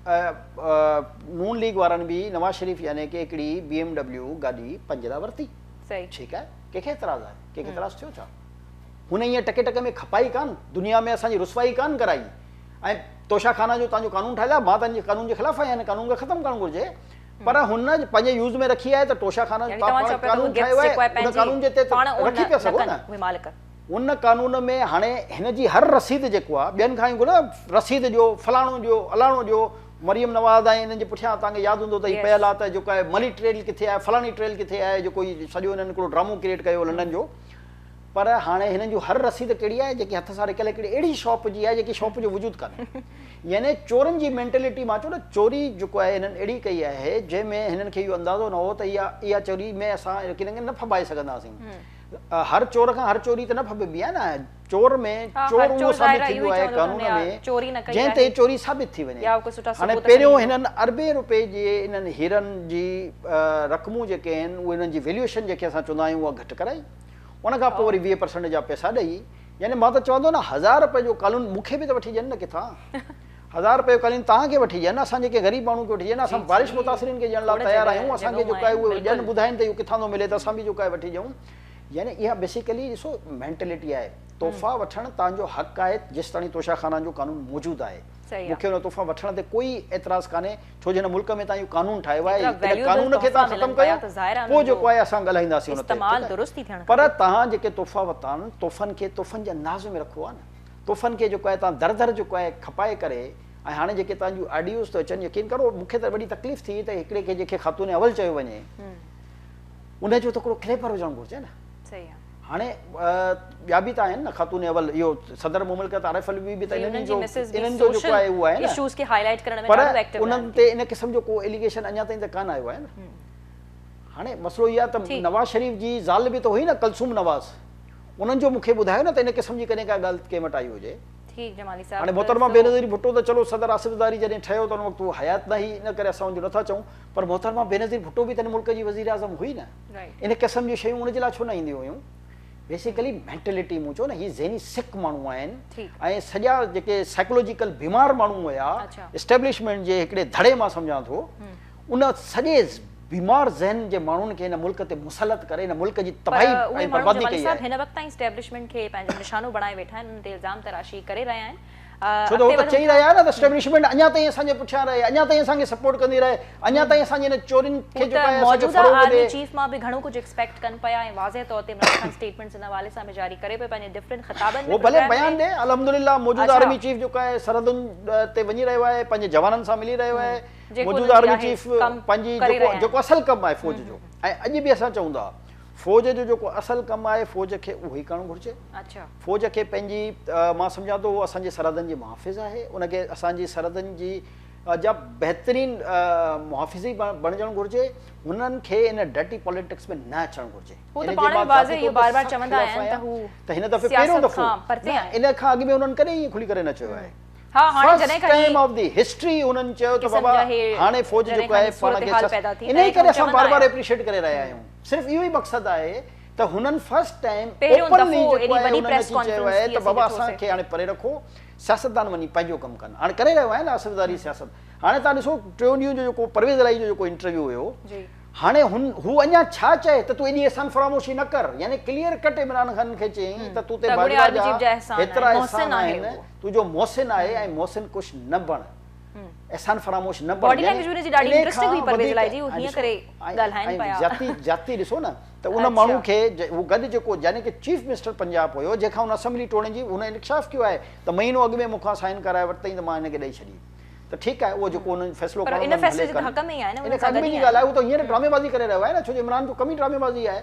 نون ليگ وارن به نواز شريف يعني ڪي هڪڙي بي ايم ڊبليو گاڏي پنهنجي لاء ورتي ٺيڪ آهي ڪنهن کي اعتراض آهي ڪنهن کي اعتراض ٿيو ڇا هن ايئن ٽڪي ٽڪي ۾ کپائي ڪانه دنيا ۾ اسان جي رسوائي ڪانه ڪرائي ۽ توشا خانا جو تان جو قانون ٺاهيل آهي مان تان جي قانون جي خلاف آهيان هن قانون کي ختم ڪرڻ گهرجي پر هن پنهنجي يوز ۾ رکي آهي ته توشا خانا جو تان پاڻ قانون ٺاهيو آهي ان قانون جي تحت رکي پيا سگهو نه ان قانون ۾ هاڻي هن جي هر رسيد جيڪو آهي ٻين کان گهرو نه رسيد ڏيو فلاڻو ڏيو الاڻو ڏيو مريم نواز ۽ انهن جي پٺيان تان کي ياد هوندو ته هي پيل آهي ته جيڪو آهي ملي ٽريل ڪٿي آهي فلاڻي ٽريل ڪٿي آهي جيڪو هي سڄو هنن هڪڙو ڊرامو ڪريٽ ڪيو لنڊن جو پر هاڻي هنن جون هر رسيد ڪهڙي آهي جيڪي هٿ سان رڪيل هڪڙي اهڙي شاپ جي آهي جيڪي شاپ جو وجود ڪانهي يعني چورن جي مينٽلٽي مان چئو نه چوري جيڪو آهي هنن اهڙي ڪئي آهي جنهن ۾ هنن کي اهو اندازو نه هو ته اها اها چوري ۾ اسان رڪيلن کي نه ڦٻائي سگهنداسين هر چور کان هر چوري ته نه ڦٻبي آهي نه چور ۾ چور اهو ثابت ٿيندو آهي قانون ۾ جنهن تي چوري ثابت ٿي وڃي هاڻي پهريون هنن اربين روپين جي انهن هيرن جي رقمون جيڪي آهن اهي انهن جي ويليوشن جيڪي اسان چوندا آهيون اها گهٽ ڪرائي ان کان پوء وري ويهه پرسنٽ جا پئسا ڏئي يعني مان ته چوان ٿو نه هزار رپئي جو قالون مون کي به ته وٺي ڏين نه ڪٿان هزار رپئي جو قالين توهان کي وٺي ڏين اسان جيڪي غريب ماڻهون کي وٺي ڏين اسان بارش متاثرين کي ڏيڻ لاء تيار آهيون اسان کي جيڪو آهي اهو ڏين ٻڌائين ته اهو ڪٿان ٿو ملي ته اسان به جيڪو آهي وٺي ڏيون يعني اها بيسيڪلي ڏسو مينٽلٽي آهي تحفا وٺڻ توهان جو حق آهي جيستاڻي توشه خانان جو قانون موجود آهي مون کي ان تحفا وٺڻ تي ڪوئي اعتراض ڪانهي ڇو جو هن ملڪ ۾ توهان اهو قانون ٺاهيو آهي ايترا ان ويليوبل قانون کي تحفا توهان ختم ملن ڪيو پيا ته ظاهر آهي پوء انهن جو جيڪو آهي اسان ڳالهائينداسين ان تي استعمال ٺيڪ آهي درست ئي ٿيڻ پر کپي. توهان جيڪي تحفا ورتا آهن تحفن کي تحفن جي انداز ۾ رکو ها نه تحفن کي جيڪو آهي توهان در در جيڪو آهي کپائي ڪري ۽ هاڻي جيڪي توهان جون آڊيوز ٿيون اچن يقين ڪرو مون کي ته وڏي تڪليف ٿي ته هڪڙي کي جنهن کي خاتون اول چيو وڃي ان جو ته هڪڙو ڪليپر هجڻ گهرجي نه. صحيح آ. هاڻي ٻيا به ته آهن نه خاتون اول اهو صدر مملڪت عارف علوي به ته انهن جو انهن جو جيڪو آهي اهو آهي نه پر انهن تي ان قسم جو ڪو اليگيشن اڃا تائين ته ڪانه آيو آهي نه هاڻي مسئلو اهو آهي ته نواز شريف جي زال به ته هئي نه ڪلثوم نواز انهن جو مون کي ٻڌايو نه ته ان قسم جي ڪڏهن ڪا ڳالهه ڪنهن وٽ آئي هجي هاڻي محترمه بينظير ڀٽو ته چلو صدر آصف زرداري جڏهن ٺهيو ته ان وقت هو حيات نه هئي ان ڪري اسان ان جو نٿا چئون پر محترمه بينظير ڀٽو به ته هن ملڪ جي وزيراعظم هئي نه ان قسم جون شيون ان جي لاء ڇو نه اينديون هيون بيسيڪلي مينٽلٽي مون چيو نه هي ذهني سک ماڻهو آهن ۽ سڄا جيڪي سائيڪولوجيڪل بيمار ماڻهو هيا اسٽيبلشمينٽ جي هڪڙي ڌڙي مان سمجهان ٿو ان سڄي بيمار ذهن جي ماڻهن کي هن ملڪ تي مسلط ڪري هن ملڪ جي تباهي ۽ بربادي ڪئي آهي هن وقت تائين اسٽيبلشمينٽ کي پنهنجو نشانو بڻائي ويٺا آهن انهن تي الزام تراشي ڪري رهيا آهن ڇو ته هو ته چئي رهيا نه ته اسٽيبلشمينٽ اڃا تائين اسان جي پٺيان رهي، اڃا تائين اسان کي سپورٽ ڪندي رهي، اڃا تائين اسان جي هن چورين کي جيڪو آهي اسان کي فروغ ڏي. هو ته موجوده آرمي چيف مان به گهڻو ڪجهه ايڪسپيڪٽ ڪن پيا ۽ واضح طور تي عمران خان اسٽيٽمينٽس ان حوالي سان به جاري ڪري پيو پنهنجي ڊفرنٽ خطابن ۾ هو ڀلي بيان ڏي الحمدلله موجوده آرمي چيف جيڪو آهي سرحدن تي وڃي رهيو آهي پنهنجي جوانن سان ملي رهيو آهي موجوده آرمي چيف پنهنجي جيڪو اصل ڪم آهي فوج جو ۽ اڄ به اسان چئون ٿا فوج جو جيڪو اصل ڪم آهي فوج کي اهو ئي ڪرڻ گهرجي. فوج کي پنهنجي مان سمجهان ٿو اهو اسان جي سرحدن جي محافظ آهي ان کي اسان جي سرحدن جي جا بهترين محافظي بڻجڻ گهرجي هنن کي ان ڊرٽي پاليٽڪس ۾ نه اچڻ گهرجي هو ته پاڻ به واضح اهو بار بار چوندا آيا آهن ته هو ته هن دفعي پهريون دفعو ان کان اڳ ۾ هنن ڪڏهن ائين کلي ڪري نه چيو آهي ها هاڻي جڏهن کان ٽائيم آف دي هسٽري هنن چيو ته بابا هاڻي فوج جيڪو آهي پاڻ کي انهي ڪري اسان بار بار اپريشيٽ ڪري رهيا آهيون صرف اهو ئي مقصد آهي ته هنن فرسٽ ٽائيم اوپنلي جيڪو آهي انهن اچي چيو آهي ته بابا اسان کي هاڻي پري رکو سياستدان وڃي پنهنجو ڪم ڪن هاڻي ڪري رهيو آهي نه آصف زراري سياست هاڻي تان ڏسو ٽيون ڏينهن جو جيڪو پرويز الاهي جو جيڪو انٽرويو هيو هاڻي هن هو اڃا ڇا چئي ته تون ايڏي احسان فراموشي نه ڪر يعني ڪليئر ڪٽ عمران خان کي چيائين ته تون تي باجوا جا هيترا احسان آهن تون جو محسن آهي ۽ محسن ڪش نه بڻ احسان فراموش نه بڻجي يعني ان کان وڌيڪ جاتي جاتي ڏسو نه ته ان ماڻهو کي هو گڏ جيڪو يعني ڪي چيف منسٽر پنجاب هيو جنهن کان هن اسيمبلي ٽوڙڻ جي هن انڪشاف ڪيو آهي ته مهينو اڳ ۾ مون کان سائن ڪرائي ورتائين ته مان هن کي ڏئي ڇڏي ته ٺيڪ آهي اهو جيڪو هن جو فيصلو ڪرڻو هن کي ڏئي ڇڏي ان کان اڳ ۾ جي ڳالهه آهي هو ته هينئر ڊرامي بازي ڪري رهيو آهي نه ڇو جو عمران جو ڪم ئي ڊرامي بازي آهي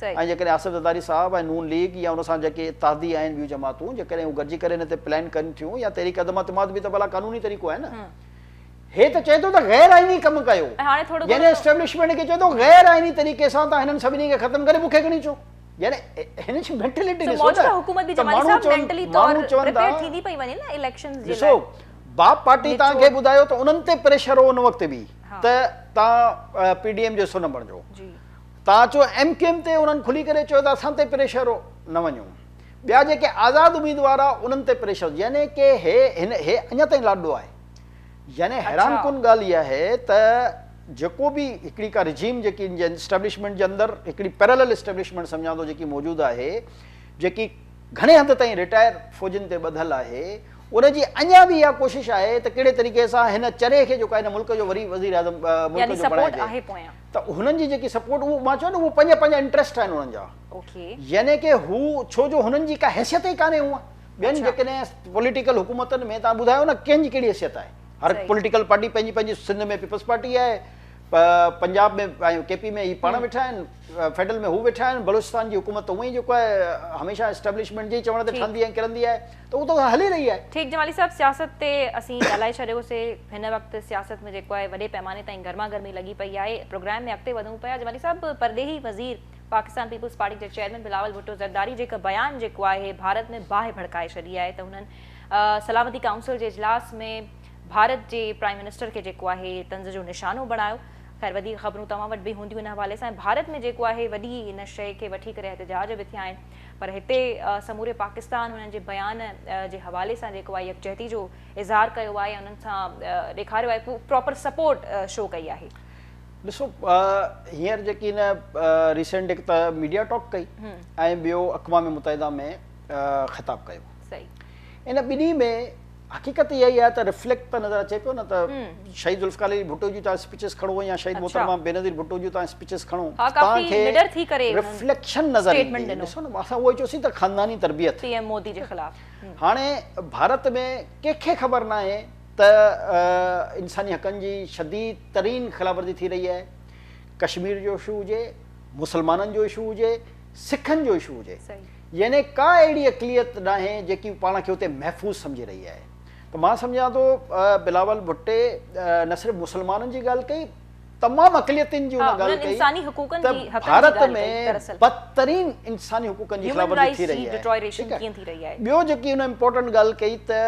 ۽ جيڪڏهن آصف زرداري صاحب ۽ نون ليگ يا ان سان جيڪي اتحادي آهن ٻيون جماعتون جيڪڏهن هو گڏجي ڪري هن تي پلان ڪن ٿيون يا تحريڪ عدم اعتماد به ته ڀلا قانوني طريقو آهي نه. هي ته چئي ٿو ته غير آئيني ڪم ڪيو. يعني اسٽيبلشمينٽ کي چئي ٿو غير آئيني طريقي سان تان هنن سڀني کي ختم ڪري مون کي کڻي اچو. يعني هن جي مينٽلٽي ڏسو نه ته ماڻهو چون ٿا ڏسو باب پارٽي تان کي ٻڌايو ته انهن تي پريشر هو ان وقت به ته تان پي ڊي ايم جو حصو نه بڻجو. تان جو ايم ڪيو ايم تي انهن کلي ڪري چيو ته اسان تي پريشر هو نه وڃو ٻيا جيڪي آزاد اميدوار آ انهن تي پريشر يعني ڪي هي هن هي اڃا تائين لاڏڙو آهي يعني حيران ڪن ڳالهه اها آهي ته جيڪو به هڪڙي ڪا رجيم جيڪي ان جي اسٽيبلشمينٽ جي اندر هڪڙي پيرلل اسٽيبلشمينٽ سمجهان ٿو جيڪي موجود آهي جيڪي گهڻي حد تائين رٽائر فوجين تي ٻڌل آهي ان جي اڃا به اها ڪوشش آهي ته ڪهڙي طريقي سان هن چري کي جيڪو آهي هن ملڪ جو وري وزيراعظم ملڪ جو بڻائجي ته هنن جي جيڪي سپورٽ اهو مان چيو نه اهو پنهنجا پنهنجا انٽريسٽ آهن هنن جا يعني ڪي هو ڇو جو هنن جي ڪا حيثيت ئي ڪانهي هونء ٻين جيڪڏهن پوليٽيڪل حڪومتن ۾ تان ٻڌايو نه ڪنهن جي ڪهڙي حيثيت آهي هر پوليٽيڪل پارٽي پنهنجي پنهنجي سنڌ ۾ پيپلز پارٽي آهي پنجاب ۾ ۽ ڪي پي ۾ هي پاڻ ويٺا آهن فيڊرل ۾ هو ويٺا آهن بلوچستان جي حڪومت ته هونء ئي جيڪو آهي هميشه اسٽيبلشمينٽ جي چوڻ تي ٺهندي ۽ ڪرندي آهي ته هو ته هلي رهي آهي. ٺيڪ جمالي صاحب سياست تي اسين ڳالهائي ڇڏيو سي هن وقت سياست ۾ جيڪو آهي وڏي پئماني تائين گرما گرمي لڳي پئي آهي پروگرام ۾ اڳتي وڌون پيا جمالي صاحب پرڏيهي وزير پاڪستان پيپلز پارٽي جي چيئرمين بلاول ڀٽو زرداري جي هڪ بيان جيڪو آهي ڀارت ۾ باهه ڀڙڪائي ڇڏي آهي ته هنن سلامتي ڪائونسل جي اجلاس ۾ ڀارت جي پرائم منسٽر کي جيڪو آهي طنز جو نشانو بڻايو خير وڌيڪ خبرون توهان وٽ به هونديون هن حوالي سان ڀارت ۾ جيڪو آهي وڏي هن شئي کي وٺي ڪري احتجاج به ٿيا آهن پر هتي سموري پاڪستان هنن جي بيان جي حوالي سان جيڪو آهي يڪجهتي جو اظهار ڪيو آهي ۽ انهن سان ڏيکاريو آهي پراپر سپورٽ شو ڪئي آهي. ڏسو هينئر جيڪي هن ريسنٽ هڪ ته ميڊيا ٽاڪ ڪئي ۽ ٻيو اقوام متحده ۾ خطاب ڪيو ان ٻنهي ۾ حقيقت اها ئي آهي ته ريفليڪٽ ته نظر اچي پيو نه ته شهيد ذوالفقار علي ڀٽو جون تهان اسپيچز کڻو يا شهيد محترمه بينظير ڀٽو جون تهان اسپيچز کڻو تهان کي ريفليڪشن نظر ايندي ڏسو نه اسان اهو ئي چيوسين ته خانداني تربيت پي ايم مودي جي خلاف هاڻي ڀارت ۾ ڪنهن کي خبر ناهي ته انساني حقن جي شديد ترين خلاف ورزي ٿي رهي آهي ڪشمير جو اشو هجي مسلمانن جو اشو هجي سکن جو اشو هجي يعني ڪا اهڙي اقليت ناهي جيڪي پاڻ کي اتي محفوظ سمجهي رهي آهي ته مان سمجهان ٿو بلاول ڀٽي نه صرف مسلمانن جي ڳالهه ڪئي تمام اقليتن جي ان ڳالهه ڪئي ته ڀارت ۾ بدترين انساني حقوقن جي خلاف ورزي ٿي رهي آهي ٻيو جيڪي ان امپورٽنٽ ڳالهه ڪئي ته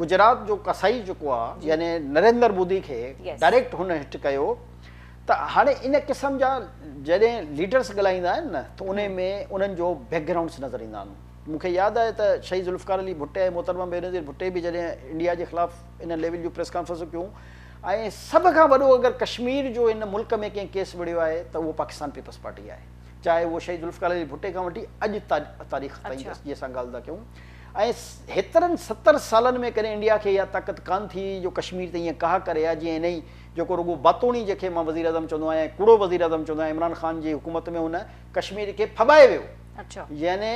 گجرات جو قصائي جيڪو آهي يعني نريندر مودي کي ڊائريڪٽ هن هٽ ڪيو ته هاڻي ان قسم جا جڏهن ليڊرس ڳالهائيندا آهن نه ته انهي ۾ انهن جو بيڪ گرائونڊس نظر ايندا آهن مون کي ياد آهي ته شهيد ذوالفقار علي ڀٽي ۽ محترمه بينظير ڀٽي به جڏهن انڊيا جي خلاف ان ليول جون پريس ڪانفرنسون ڪيون ۽ سڀ کان وڏو اگر ڪشمير جو هن ملڪ ۾ ڪنهن ڪيس وڙهيو آهي ته اهو پاڪستان پيپلز پارٽي آهي چاهي اهو شهيد ذوالفقار علي ڀٽي کان وٺي اڄ تاريخ تائين اچا. جي اسان ڳالهه ٿا ڪيون ۽ هيترن ستر سالن ۾ ڪڏهن انڊيا کي اها طاقت ڪانه ٿي جو ڪشمير تي ايئن ڪاهه ڪري ها جيئن انهي جيڪو رڳو باتوڻي جي کي مان وزيراعظم چوندو آهيان ۽ ڪوڙو وزيراعظم چوندو آهيان عمران خان جي حڪومت ۾ هن ڪشمير کي ڦٻائي ويو يعني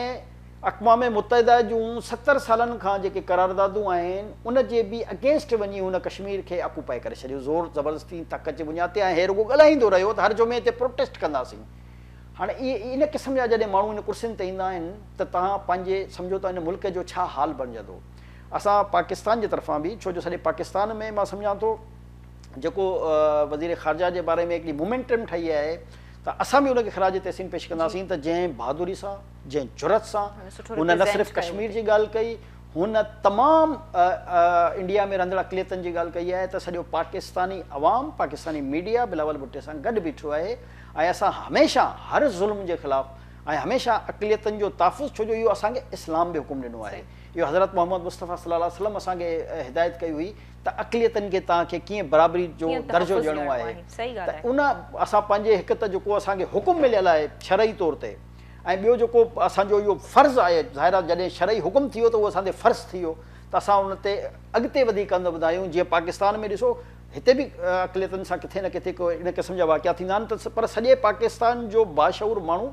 اقوام متحده جون ستر سالن کان جيڪي قراردادون آهن ان جي به اگينسٽ وڃي هن ڪشمير کي آڪوپائي ڪري ڇڏيو زور زبردستي طاقت جي بنياد تي ۽ هي رڳو ڳالهائيندو رهيو ته هر جمعي تي پروٽيسٽ ڪنداسين هاڻي ان قسم جا جڏهن ماڻهو ان ڪرسين تي ايندا آهن ته توهان پنهنجي سمجهو ته ان ملڪ جو ڇا حال بڻجندو اسان پاڪستان جي طرفان به ڇو جو سڄي پاڪستان ۾ مان سمجهان ٿو جيڪو وزير خارجه جي باري ۾ هڪڙي مومينٽم ٺهي آهي ته اسان به ان کي خراج تحسين پيش ڪنداسين ته جنهن بهادري سان جنهن جرئت سان هن نه صرف ڪشمير جي ڳالهه ڪئي هن تمام انڊيا ۾ رهندڙ اقليتن جي ڳالهه ڪئي آهي ته سڄو پاڪستاني عوام پاڪستاني ميڊيا بلاول ڀٽي سان گڏ بيٺو آهي ۽ اسان هميشه هر ظلم جي خلاف ۽ هميشه اقليتن جو تحفظ ڇو جو اهو اسان کي اسلام به حڪم ڏنو آهي اهو حضرت محمد مصطفيٰ صلي الله عليه وسلم اسان کي هدايت ڪئي هئي ته اقليتن کي توهان کي ڪيئن برابري جو ڪيئن درجو تحفظ ڏيڻو ڏيڻو آهي آهي. صحيح ته ڳالهه آهي. ان اسان پنهنجي هڪ ته جيڪو اسان کي حڪم مليل آهي شرعي طور تي ۽ ٻيو جيڪو اسان جو اهو فرض آهي ظاهر آهي جڏهن شرعي حڪم ٿي ويو ته اهو اسان تي فرض ٿي ويو ته اسان ان تي اڳتي وڌي قدم وڌايون جيئن پاڪستان ۾ ڏسو هتي به اقليتن سان ڪٿي نه ڪٿي ڪو ان قسم جا واقعا ٿيندا آهن ته پر سڄي پاڪستان جو باشعور ماڻهو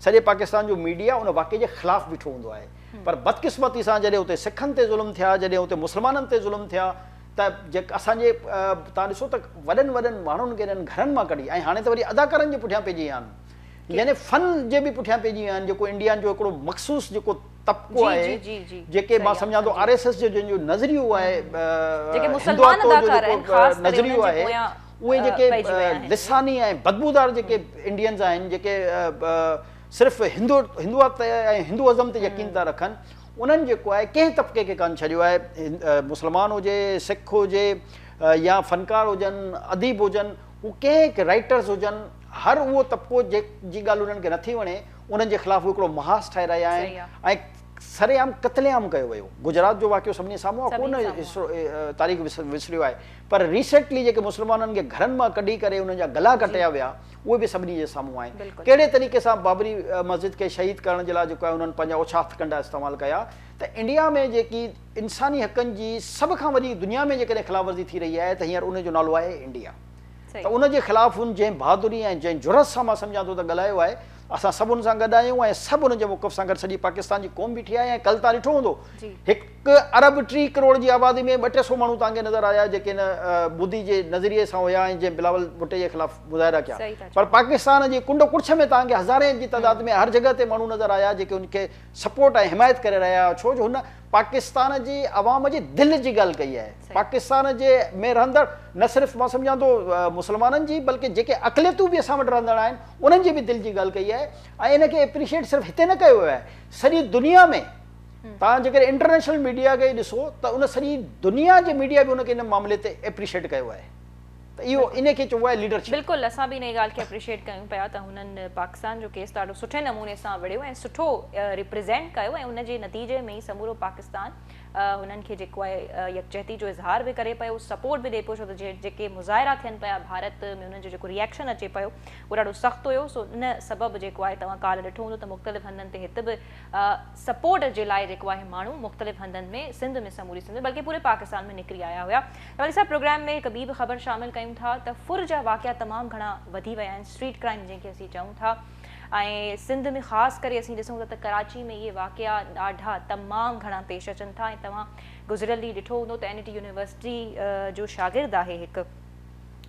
سڄي پاڪستان جو ميڊيا ان واقعي جي خلاف بيٺو هوندو آهي پر بدقسمتي سان جڏهن اتي سکن تي ظلم ٿيا، جڏهن اتي مسلمانن تي ظلم ٿيا ته جيڪ اسان جي توهان ڏسو ته وڏن وڏن ماڻهن کي انهن گهرن مان ڪڍي ۽ هاڻي ته وري اداڪارن جي پٺيان پئجي ويا آهن يعني فن جي به پٺيان پئجي ويا آهن جيڪو انڊيا جو هڪڙو مخصوص جيڪو طبقو آهي جيڪي مان سمجهان ٿو آر ايس ايس جو جن جو نظريو آهي هندواتو جو جيڪو نظريو آهي اهي جيڪي لساني ۽ بدبودار جيڪي انڊينز آهن جيڪي صرف هندو هندوات ۽ هندوازم تي يقين ٿا رکن انهن جيڪو آهي ڪنهن طبقي کي ڪانه ڇڏيو آهي مسلمان هجي سک هجي يا فنڪار هجن اديب هجن هو ڪنهن کي رائيٽرز هجن هر اهو طبقو جي جي ڳالهه انهن کي نٿي وڻي انهن جي خلاف هو هڪڙو محاذ ٺاهي رهيا آهن صحيح آهي. ۽ سر عام قتل عام ڪيو ويو گجرات جو واقعو سڀني سامهون آهي ڪونه سڀني سامهون هسٽرو تاريخ وسريو آهي پر ريسينٽلي جيڪي مسلمانن کي گهرن مان ڪڍي ڪري انهن جا گلا جي ڪٽيا ويا اهي به سڀني جي سامهون آهن. ڪهڙي طريقي سان بابري مسجد کي شهيد ڪرڻ جي لاء جيڪو آهي انهن پنهنجا اوڇا هٿڪنڊا استعمال ڪيا ته انڊيا ۾ جيڪي انساني حقن جي سڀ کان وڏي دنيا ۾ جيڪڏهن خلاف ورزي ٿي رهي آهي ته هينئر ان جو نالو آهي انڊيا ته ان جي خلاف هن جنهن بهادري ۽ جنهن جرئت سان مان سمجهان ٿو ته ڳالهايو آهي اسان سڀ ان سان گڏ آهيون ۽ سڀ ان جي موقف سان گڏ سڄي پاڪستان جي قوم بيٺي آهي ۽ ڪل تان ڏٺو هوندو هڪ هڪ ارب ٽي ڪروڙ جي آبادي ۾ ٻه ٽي سئو ماڻهو توهان کي نظر آيا جيڪي هن مودي جي نظريي سان هيا ۽ جنهن بلاول ڀٽي جي خلاف مظاهرا ڪيا پر پاڪستان جي ڪنڊ ڪڙڇ ۾ توهان کي هزارين جي تعداد ۾ هر جڳهه تي ماڻهو نظر آيا جيڪي هن کي سپورٽ ۽ حمايت ڪري رهيا هيا ڇو جو هن پاڪستان جي عوام جي دل جي ڳالهه ڪئي آهي پاڪستان جي ۾ رهندڙ نه صرف مان سمجهان ٿو مسلمانن جي بلڪه جيڪي اقليتون به اسان وٽ رهندڙ آهن انهن جي به دل جي ڳالهه ڪئي آهي ۽ ان کي اپريشيئيٽ صرف هتي نه ڪيو ويو آهي سڄي دنيا ۾ توهان جيڪڏهن انٽرنيشنل ميڊيا کي ڏسو ته ان سڄي دنيا جي ميڊيا به ان کي ان معاملي تي ايپريشيئيٽ ڪيو آهي ته اهو ان کي چئبو آهي ليڊرشپ. بلڪل اسان به انهي ڳالهه کي اپريشيئيٽ ڪيون پيا ته هنن پاڪستان جو ڪيس ڏاڍو سٺي نموني سان وڙهيو ۽ سٺو ريپريزينٽ ڪيو ۽ ان جي نتيجي ۾ ئي سمورو پاڪستان هنن کي جيڪو آهي يڪجهتي جو اظهار به ڪري پيو سپورٽ به ڏي پيو ڇو ته جيڪي مظاهرا ٿين پيا ڀارت ۾ انهن جو جيڪو ريئيڪشن اچي پيو اهو ڏاڍو سخت هيو سو ان سبب جيڪو آهي توهان ڪالهه ڏٺو هوندو ته مختلف هنڌن تي هت به سپورٽ جي لاء جيڪو آهي ماڻهو مختلف هنڌن ۾ سنڌ ۾ سموري سنڌ ۾ بلڪه پوري پاڪستان ۾ نڪري آيا هيا ته ولي صاحب پروگرام ۾ هڪ ٻي به خبر شامل ڪيون ٿا ته ڦر جا واقعا تمام گهڻا وڌي ويا آهن اسٽريٽ ڪرائيم جنهن کي اسين چئون ٿا ۽ سنڌ ۾ خاص ڪري اسين ڏسون ٿا ته ڪراچي ۾ اهي واقعا ڏاڍا تمام گهڻا پيش اچن ٿا ۽ توهان گذريل ڏينهن ڏٺو هوندو ته اين اي ٽي يونيورسٽي جو شاگرد آهي هڪ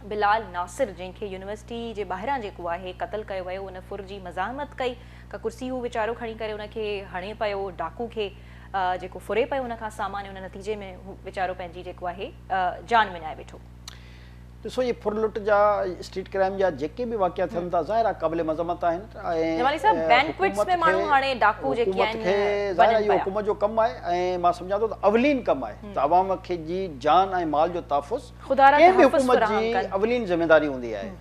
بلال ناصر جنهن کي يونيورسٽي جي ٻاهران جيڪو آهي قتل ڪيو ويو ان ڦر جي مزاحمت ڪئي ڪا ڪرسي هو ويچارو کڻي ڪري ان کي هڻي پيو ڊاڪو کي جيڪو ڦري پيو ان کان سامان ان نتيجي ۾ هو ويچارو پنهنجي جيڪو آهي جان وڃائي ويٺو. ڏسو هي ڦر لٽ جا اسٽريٽ ڪرائيم جا جيڪي به واقعا ٿين ٿا ظاهر آهي قابل مذمت آهن جمالي صاحب بينڪوٽس ۾ ماڻهو هاڻي ڊاڪو جيڪي آهن ظاهر آهي اهو حڪومت جو ڪم آهي ۽ مان سمجهان ٿو ته اولين ڪم آهي ته عوام کي جي جان ۽ مال جو تحفظ ڪنهن به حڪومت جي اولين ذميواري هوندي آهي.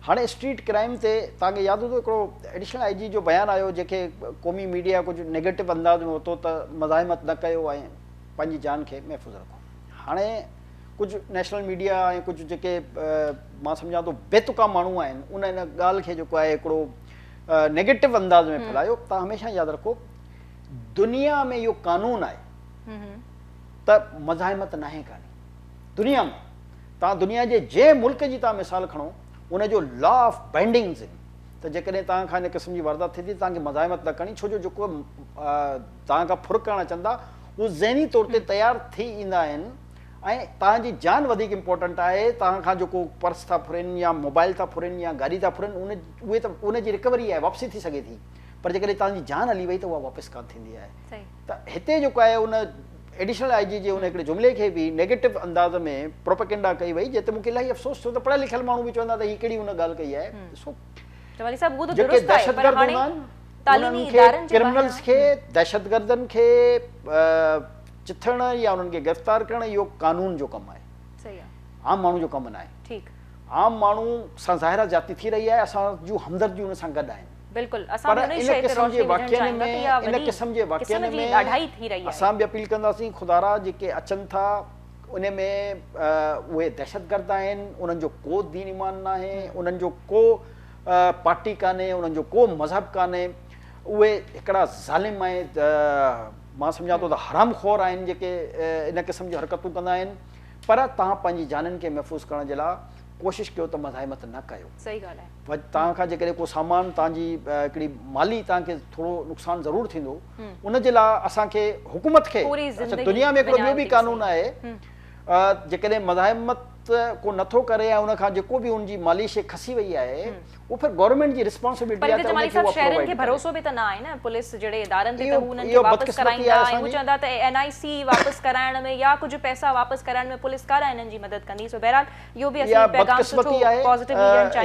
هاڻي اسٽريٽ ڪرائيم تي توهان کي ياد هوندو هڪڙو ايڊيشنل آء جي جو بيان آيو جنهن کي قومي ميڊيا ڪجهه نيگيٽو انداز ۾ ورتو ته مزاحمت نه ڪيو ۽ پنهنجي جان کي محفوظ رکو هاڻي ڪجهه نيشنل ميڊيا ۽ ڪجهه جيڪي مان سمجهان ٿو بي تڪا ماڻهو آهن ان ان ڳالهه کي جيڪو آهي هڪڙو نيگيٽو انداز ۾ ڦيلايو تان هميشه ياد رکو دنيا ۾ اهو قانون آهي ته مزاحمت ناهي ڪاني دنيا ۾ توهان دنيا جي جنهن ملڪ جي توهان مثال کڻو ان جو لا آف بينڊنگز ان ته جيڪڏهن توهان کان ان قسم جي واردات ٿئي ٿي ته توهان کي مزاحمت نه ڪرڻي ڇو جو جيڪو توهان کان ڦر ڪرڻ اچن ٿا اهي ذهني طور تي تيار ٿي ايندا آهن ۽ توهان جي جان وڌيڪ امپورٽنٽ آهي توهان کان جيڪو پرس ٿا ڦرين يا موبائل ٿا ڦرين يا گاڏي ٿا ڦرين ان اهي ته ان جي رڪوري آهي واپسي ٿي سگهي ٿي پر جيڪڏهن توهان جي جان هلي وئي ته اها واپس ڪانه ٿيندي آهي ته هتي جيڪو آهي ان ايڊيشنل آء جي جي ان هڪڙي جملي کي به نيگيٽو انداز ۾ پروپيگنڊا ڪئي وئي جنهن تي مون کي الاهي افسوس ٿيو ته پڙهيل لکيل ماڻهو به چوندا ته هي ڪهڙي هن ڳالهه ڪئي آهي ڏسو جيڪي دهشتگرد هوندا آهن انهن کي ڪرمنلز کي دهشتگردن کي چٿڻ يا انهن کي گرفتار ڪرڻ اهو قانون جو ڪم آهي عام ماڻهو جو ڪم ناهي عام ماڻهو سان ظاهر آهي زيادتي ٿي رهي آهي اسان جون همدرديون ان سان گڏ آهن بلڪل اسان به انهي شئي تي روشني وجهڻ چاهيون ٿا ته اها وڏي قسم جي ڏاڍائي ٿي رهي آهي. اسان به اپيل ڪنداسين خدارا جيڪي اچن ٿا انهي ۾ اهي دهشت گرد آهن انهن جو ڪو دين ايمان ناهي انهن جو ڪو پارٽي ڪانهي انهن جو ڪو مذهب ڪانهي اهي هڪڙا ظالم ۽ مان سمجهان ٿو ته حرام خور آهن جيڪي انهي قسم جون حرڪتون ڪندا آهن پر توهان پنهنجي جانن کي محفوظ ڪرڻ جي لاء ڪوشش ڪيو ته مزاحمت نه ڪيو. صحيح ڳالهه آهي. ڀڄ توهان کان جيڪڏهن ڪو سامان توهان جي هڪڙي مالي توهان کي ٿورو نقصان ضرور ٿيندو ان جي لاء اسان کي حڪومت کي دنيا ۾ هڪڙو ٻيو به قانون آهي جيڪڏهن مزاحمت ڪو نٿو ڪري ۽ ان کان جيڪو به ان جي مالي شيء کسي وئي آهي اهو پھر گورنمينٽ جي رسپانسبلٽي آهي ته ان کي اها شهرين کي ڀروسو به ته نه آهي نه پوليس جهڙي ادارن تي ته هو انهن کي واپس ڪرائيندا ۽ هو چوندا ته اين آء سي واپس ڪرائڻ ۾ يا ڪجهه پئسا واپس ڪرائڻ ۾ پوليس ڪا نه انهن جي مدد ڪندي سو بهرحال اها بدقسمتي آهي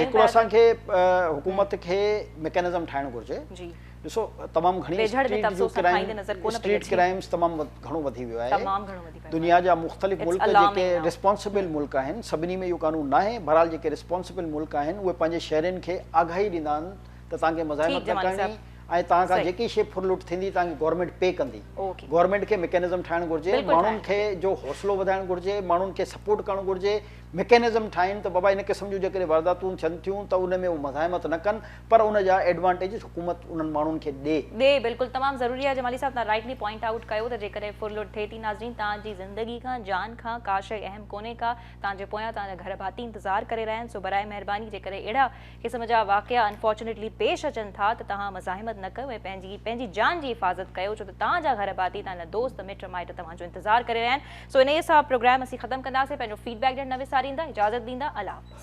هڪڙو اسان کي حڪومت کي مڪينزم ٺاهڻ گهرجي ڏسو تمام گهڻي اسٽريٽ ڪرائمز تمام گهڻو وڌي ويو آهي دنيا جا مختلف ملڪ جيڪي رسپانسبل ملڪ آهن سڀني ۾ اهو قانون نه آهي بهرحال جيڪي رسپانسبل ملڪ آهن اهي پنهنجي شهرين کي آگاهي ڏيندا آهن ته توهان کي مزاحمت نه ڪرڻي ۽ توهان کان جيڪي شي ڦر لٽ ٿيندي توهان کي گورنمينٽ پي ڪندي گورنمينٽ کي مڪينزم ٺاهڻ گهرجي ماڻهن کي جو حوصلو وڌائڻ گهرجي ماڻهن کي سپورٽ ڪرڻ گهرجي مڪينزم ٺاهين ته بابا ان قسم جون جيڪڏهن وارداتون ٿين ٿيون ته ان ۾ هو مزاحمت نه ڪن پر ان جا ايڊوانٽيجز حڪومت انهن ماڻهن کي ڏي. ڏي بلڪل تمام ضروري آهي جمالي صاحب توهان رائٽلي پوائنٽ آئوٽ ڪيو ته جيڪڏهن ڦر لٽ ٿئي ٿي ناظرين توهان جي زندگي کان جان کان ڪا شئي اهم ڪونهي ڪا توهان جي پويان توهان جا گهر ڀاتي انتظار ڪري رهيا آهن سو براء مهرباني جيڪڏهن اهڙا قسم جا واقعا Unfortunately پيش اچن ٿا ته توهان مزاحمت نه ڪيو ۽ پنهنجي پنهنجي جان جي حفاظت ڪيو ڇو ته توهان جا گهر ڀاتي توهان جا دوست مٽ مائٽ توهان جو انتظار ڪري رهيا آهن سو انهي سان پروگرام اسين ختم ڪنداسين پنهنجو فيڊ بيڪ ڏيڻ نه وساريندا اجازت ڏيندا الله حافظ.